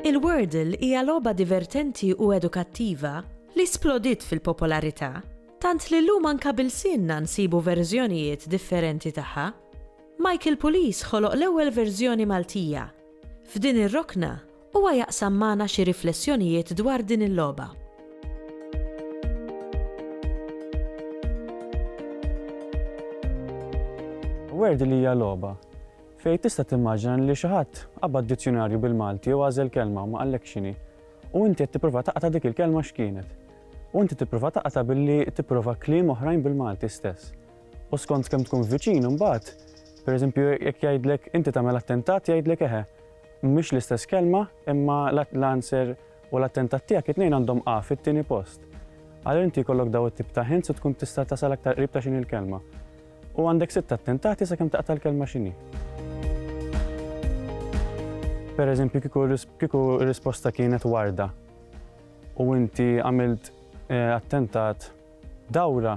Il-Wordle hija logħba divertenti u edukattiva li splodiet fil-popolarità, tant li llum anka b'ilsienna nsibu verżjonijiet differenti tagħha. Michael Pulis ħoloq l-ewwel verżjoni Maltija. F'din ir-rokna, huwa jaqsam magħna xi riflessjonijiet dwar din il-logħba. Word li hija logħba. Fejn tista' timmaġina li xi ħadd qabad dizzjunarju bil-Malti u għażel kelma u ma qallekx x'inhi. U inti qed tipprova taqta' dik il-kelma x'kienet. U inti tipprova taqta' billi tipprova kliem oħrajn bil-Malti stess. U skont kemm tkun viċin imbagħad, pereżempju jekk jgħidlek inti tagħmel attentat jgħidlek eħe. Mhix l-istess kelma imma l-answer u l-attentat tiegħek it-tnejn għandhom A fit-tieni post. Għal inti jkollok daw it-tip ta' hints u tkun tista' tasal aktar qrib ta' x'inhi l-kelma. U għandek sitt attentati sakemm taqta' l-kelma x'inhi. Pereżempju kieku kieku r-risposta kienet warda u inti għamilt attentat, Dawra,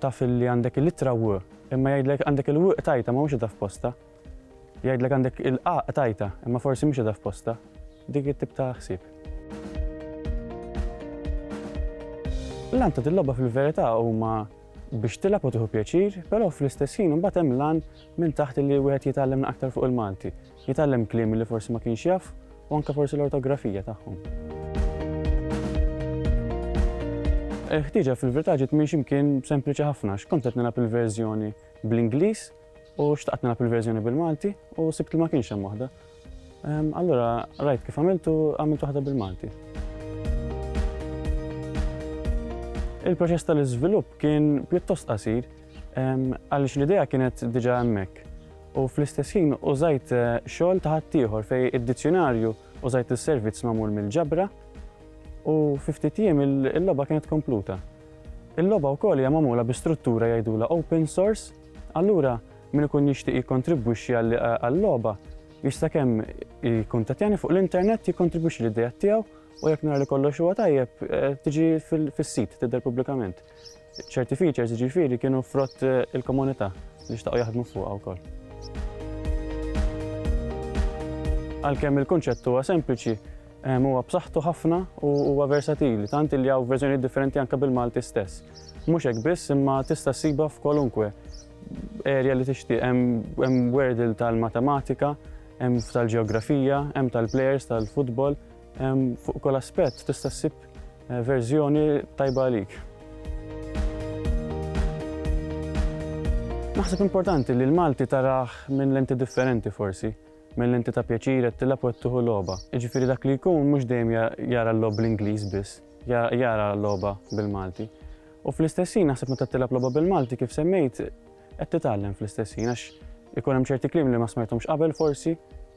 taf illi għandek il-ittra W, imma jgħidlek għandek il-W qtajtha ma mhux qitha f'postha. Jgħidlek għandek il-A qtajtha, imma forsi mhix qitha f'postha. Dik it-tip ta' ħsieb. L-għan ta' dil-logħba fil-verità huma biex tilgħab u tieħu pjaċir, però fl-istess ħin imbagħad hemm l-għan minn taħt li wieħed jitgħallem aktar fuq il-Malti. Jitgħallem kliem li forsi ma kienx jaf u anke forsi l-ortografija tagħhom. Il-ħtieġa fil-verità ġiet minn x'imkien sempliċi ħafna x'kont qed nilgħab il-verżjoni bl-Ingliż u xtaqt nilgħab il-verżjoni bil-Malti u sibt li ma kienx hemm waħda. Ehm, allura rajt kif għamiltu għamilt waħda bil-Malti. Il-proċess tal-iżvilupp kien pjuttost qasir Għaliex l-idea kienet diġà hemmhekk. U fl-istess ħin użajt eh, xogħol ta' ħaddieħor fej id-dizzjonarju użajt is-servizz magħmul mill-ġabra u fi ftit jiem il-logħba kienet kompluta. Il-logħba wkoll hija magħmula bi struttura jgħidula open source, allura min ikun jixtieq jikkontribwixxi għall-logħba jista' kemm jikkuntattjani fuq l-internet jikkontribwixxi l-idea tiegħu u jekk nara li kollox huwa tajjeb eh, tiġi fis-sit tidher pubblikament. Ċerti features ġifiri kienu frott il-komunità li xtaqgħu jaħdmu fuqha wkoll. Għalkemm il-kunċett huwa sempliċi, ehm, huwa b'saħħtu ħafna u huwa versatili, tant li hawn verżjoni differenti anke bil-Malti stess. Mhux hekk biss imma tista' ssibha f'kolunkwe erja li tixtieq hemm werdil tal-matematika, hemm tal-ġeografija, hemm tal-plejers tal-futbol, Fuq kull aspett tista' ssib eh, verżjoni tajba għalik. Naħseb importanti li l-Malti taraħ minn lenti differenti forsi, minn lenti ta' pjaċir qed tilab u qed tuħu logħba. Jiġifieri dak li jkun mhux dejjem jara l-lob bl-Ingliż biss, jara l-logħba bil-Malti. U fl-istessin naħseb meta tilab logħba bil-Malti kif semmejt qed titgħallem fl-istessin għax ikun hemm ċerti kliem li ma smajthomx qabel forsi